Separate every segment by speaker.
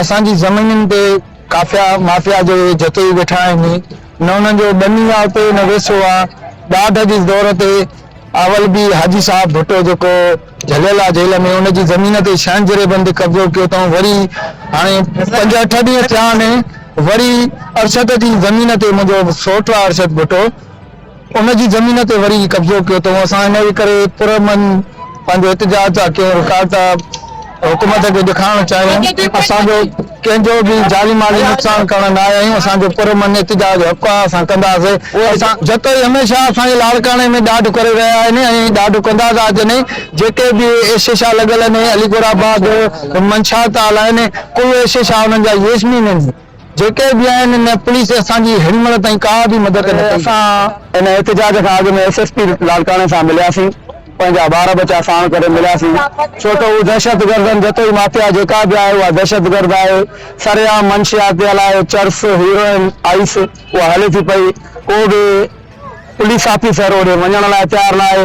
Speaker 1: اسان جي زمينن تي قافيا مافيا جي جتي ئي ويٺا آهن، نه انهن جو ٻني آ اتي نه ويسو آ، ڏاڍ جي دور تي اول به حاجي صاحب ڀٽو جيڪو جهليل آ جيل ۾ ان جي زمين تي شهن جري بند قبضو ڪيو تئون وري هاڻي پنج اٺ ڏينهن ٿيا آهن وري ارشد جي زمين تي منهنجو سوٽ آ ارشد ڀٽو ان جي زمين تي وري قبضو ڪيو اٿئون اسان ان جي ڪري پر امن پنهنجو احتجاج ٿا ڪيون رڪارڊ ٿا حڪومت کي ڏيکارڻ چاهيون اسان جو ڪنهن جو به جاني مالي نقصان ڪرڻ نه آيا آهيون اسان جو پر امن احتجاج حق آهي اسان ڪنداسي اسان جتوئي هميشه اسان جي لاڙڪاڻي ۾ ڏاڍ ڪري رهيا آهن ۽ ڏاڍ ڪندا ٿا اچن ۽ جيڪي به ايشيشا لڳل آهن علي گوڙ آباد منشا تعال آهن ڪل ايشيشا انهن جا ييشمين آهن. جيڪي به آهن ان پوليس اسان جي هن مهل تائين ڪا به مدد نه ڪئي. اسان ان احتجاج کان اڳ ۾ ايس ايس پي لاڙڪاڻي سان ملياسين پنهنجا ٻار ٻچا ساڻ ڪري ملياسين ڇو ته هو دهشتگردن جتوئي مافيا جيڪا به آهي اها دهشتگرد آهي سرعام منشيات تي هلائي چرس هيروئن آئيس اها هلي ٿي پئي ڪو به پوليس آفيسر اوڏي وڃڻ لاء تيار ناهي.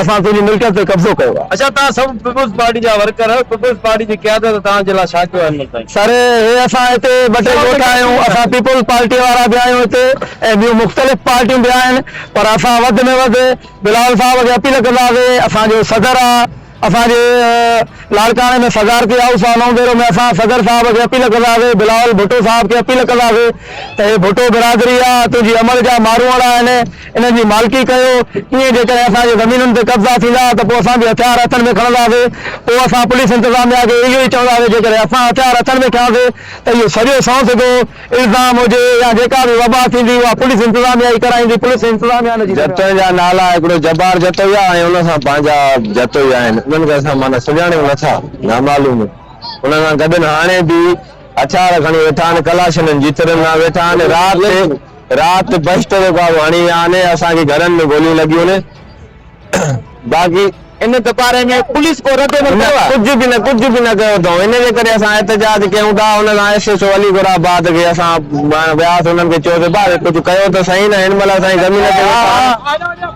Speaker 1: اسان تنهنجي ملڪيت تي قبضو ڪيو آهي. اڇا توهان سڀ پيپلز پارٽي جا ورڪر آهيو، پيپلز پارٽي جي قيادت توهان جي لاء ڇا ڪيو آهي هنمل سائين؟ سر هي اسان هتي ٻه ٽي ڳوٺ آهيون، اسان پيپلز پارٽي وارا به آهيون هتي ۽ ٻيون مختلف پارٽيون به آهن پر اسان وڌ ۾ وڌ بلاول صاحب کي اپيل ڪنداسي اسان جو صدر آ اسان جي لاڙڪاڻي ۾ صدارتي هائوس آ نوبيرو ۾ اسان صدر صاحب کي اپيل ڪنداسي بلاول ڀٽو صاحب کي اپيل ڪنداسي ته هي ڀٽو برادري آ تنهنجي عمل جا ماروئڙا آهن. انهن جي مالڪي ڪيو، ائين جيڪڏهن اسان جي زمينن تي قبضا ٿيندا ته پوء اسان به هٿيار هٿن ۾ کڻنداسين، پوء اسان پوليس انتظاميا کي اهو ئي چونداسين، جيڪڏهن اسان هٿيار هٿن ۾ کنياسين ته اهو سڄو سنئون سڌو الزام هجي يا جيڪا به وبا ٿيندي اها پوليس انتظاميا ئي ڪرائيندي، پوليس انتظاميا نه جي ذميواري. جتوئين جا نالا هڪڙو جبار جتوئي آهي ۽ ان سان پنهنجا جتوئي آهن انهن کي اسان معنيٰ سڃاڻيون نه ٿا، نامعلوم انهن سان گڏن هاڻي به هٿيار کڻي ويٺا آهن، ڪلاشنن جي ترن سان ويٺا آهن، رات رات بهشت جو ڪارو هڻي ويا آهن، اسان کي گهرن ۾ گوليون لڳيون آهن، باقي. ان باري ۾ پوليس ڪو رد عمل ڪيو آهي؟ نه، ڪجهه به نه، ڪجهه به نه ڪيو اٿئون، ان جي ڪري اسان احتجاج ڪيون ٿا، ان سان S H O Ali Gul Abad کي اسان وياسين، انهن کي چيوسين ڀاء ڪجهه ڪيو ته سهي نه، هن مهل اسان جي زمين تي ويٺا آهن.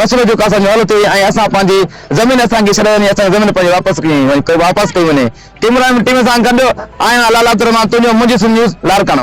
Speaker 1: مسئلو جيڪو اسان جو حل ٿئي ۽ اسان پنهنجي زمين اسان کي ڇڏي وڃي اسان جي زمين پنهنجي واپس ڪئي وڃي ڪيمرا مين ٽيم سان گڏ آهيان لعل عبدالرحمان تونجو منهنجي سنڌ نيوز لاڙڪاڻو.